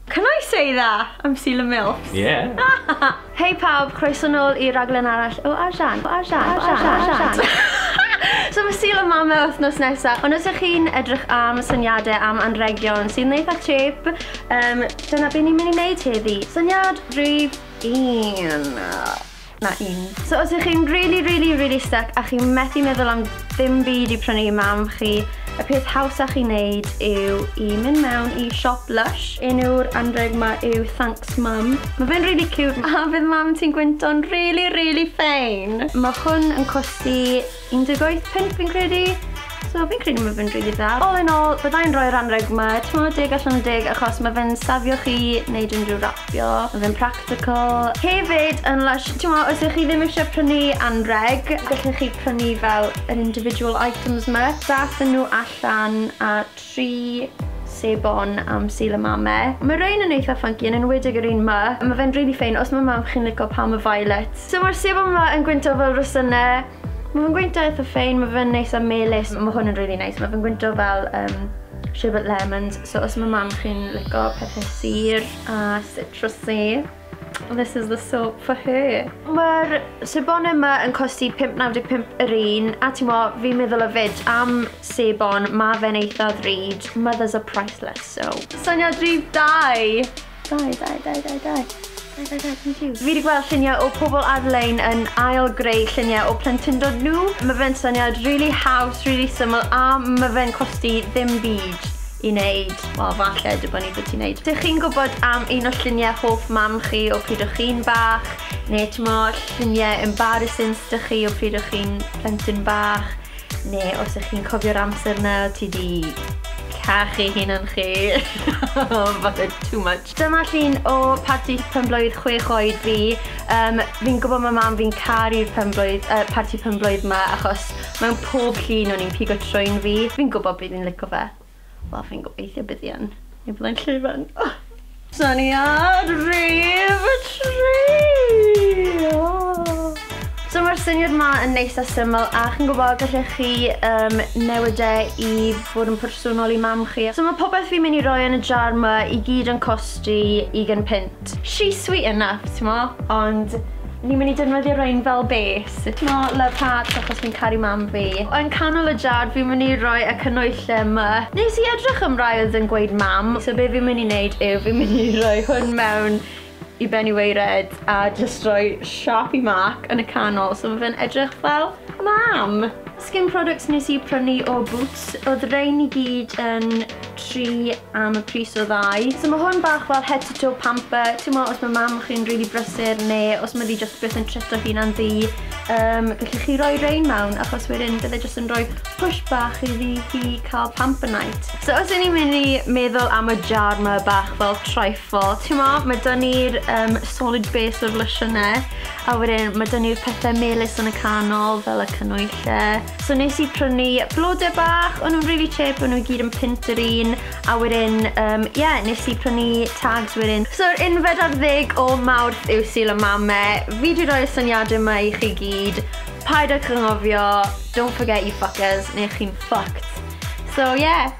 Can I say that? I'm Sula Mills. Yeah. Hei pawb, croeso nôl i raglen arall o Arjan. Arjan. Arjan. Arjan. So mae Sul a Mama wythnos nesaf, ond os ych chi'n edrych am syniadau am anregion sy'n eitha chip, um, dyna beth ni'n mynd i wneud heddi. Syniad rhif un. na un. So os ych chi'n really, really, really stuck a chi'n methu meddwl am ddim byd i prynu i mam chi, y peth hawsach i wneud yw i mynd mewn i siop Lush. Enw'r anreg ma yw Thanks Mum. Mae fe'n really cute. A bydd mam ti'n gwynto'n really, really fein. Mae hwn yn costi 18 punt fi'n credu, so fi'n credu mae fe'n rili dda. All in all, byddai'n rhoi'r anrheg yma, timod, deg allan o deg, achos mae fe'n safio chi wneud unrhyw rapio, mae fe'n practical. Hefyd yn lush, timod, os ych chi ddim eisiau prynu anrheg, gallwch chi prynu fel yr individual items yma, dathen nhw allan at tri sebon am Sul y Mame. Mae rhein yn eitha funky, yn enwedig yr un ma. Mae fe'n really ffein, os mae mam chi'n lico Palm of Violet. So mae'r sebon ma yn gwyntog fel rosynne. Mae fe'n gwyntog eitha ffein, mae fe'n neis a melys. Mae hwn yn really neis, mae fe'n gwyntog fel um, sherbet lemons. So os mae mam chi'n lico pethau sur a citrusy. This is the soap for her. Mae'r sebon yma yn costi 5.95 yr un, a ti'n mo, fi'n meddwl o fyd am sebon, mae fe'n eitha ddrud, mothers are priceless, so. Syniad rhydd dau! Dau, dau, dau, dau, dau. Fi wedi gweld lluniau o pobl ar-lein yn ail greu lluniau o plentyndod nhw. Mae fe'n syniad really house, really syml, a mae fe'n costi ddim byd. i wneud, wel falle dibynnu beth ti'n wneud. Dych chi'n gwybod am un o lluniau hoff mam chi o pryd o chi'n bach, neu timod lluniau embarrassing sydd 'da chi o pryd o chi'n plentyn bach, neu os ych chi'n cofio'r amser 'na o ti 'di cachu hunan chi, falle too much. Dyma llun o parti penblwydd chwech oed fi. Yym, fi'n gwybod ma' mam fi'n caru'r penblwydd, yy parti penblwydd 'ma achos mewn pob llun o'n i'n pigo trwyn fi. Fi'n gwybod bydd 'i'n lico fe. Wel, fi'n gobeithio bydd 'i yn. Neu byddai'n llwyfan. Syniad rhif tri! So mae'r syniad ma yn neis a syml a chi'n gwybod gallech chi um, newid e i fod yn personol i mam chi. So mae popeth fi'n mynd i roi yn y jar ma i gyd yn costi 20 pint. She's sweet enough, ti'n mo, ond ni'n mynd i defnyddio rhain fel base. Ti'n mo, love hearts achos fi'n caru mam fi. Yn canol y jar fi'n mynd i roi y cynwylle yma. Nes i edrych am rai oedd yn gweud mam, so be fi'n mynd i wneud yw fi'n mynd i roi hwn mewn i ben i weired a jyst rhoi siâp i marc yn y canol so ma' fe'n edrych fel mam! Skin products nes i prynu o Boots, oedd rein i gyd yn tri am y pris o ddau. So mae hwn bach fel head to toe pamper, ti'n mo os mae mam chi'n rili brysur neu os mae ddi jyst beth yn trito hunan ddi, um, gallwch chi roi rein mewn achos wedyn bydde jyst yn rhoi push bach i ddi hi cael pamper night. So os y'n ni'n mynd i meddwl am y jar mae bach fel Wel, t'mod, ma' 'da ni'r yym solid base o'r losiynnau, a wedyn ma' 'da ni'r pethe melys yn y canol fel y cannwylle. So nes i prynu blode bach, o'n nw'n rili chip, o'n nw i gyd yn punt yr un, a wedyn yym ie, nes i prynu tags wedyn. So'r unfed ar ddeg o Mawrth yw Sul y Mame. Fi 'di rhoi'r syniade 'ma i chi gyd, paid ag anghofio, don't forget you fuckers, neu chi'n fucked. So ie.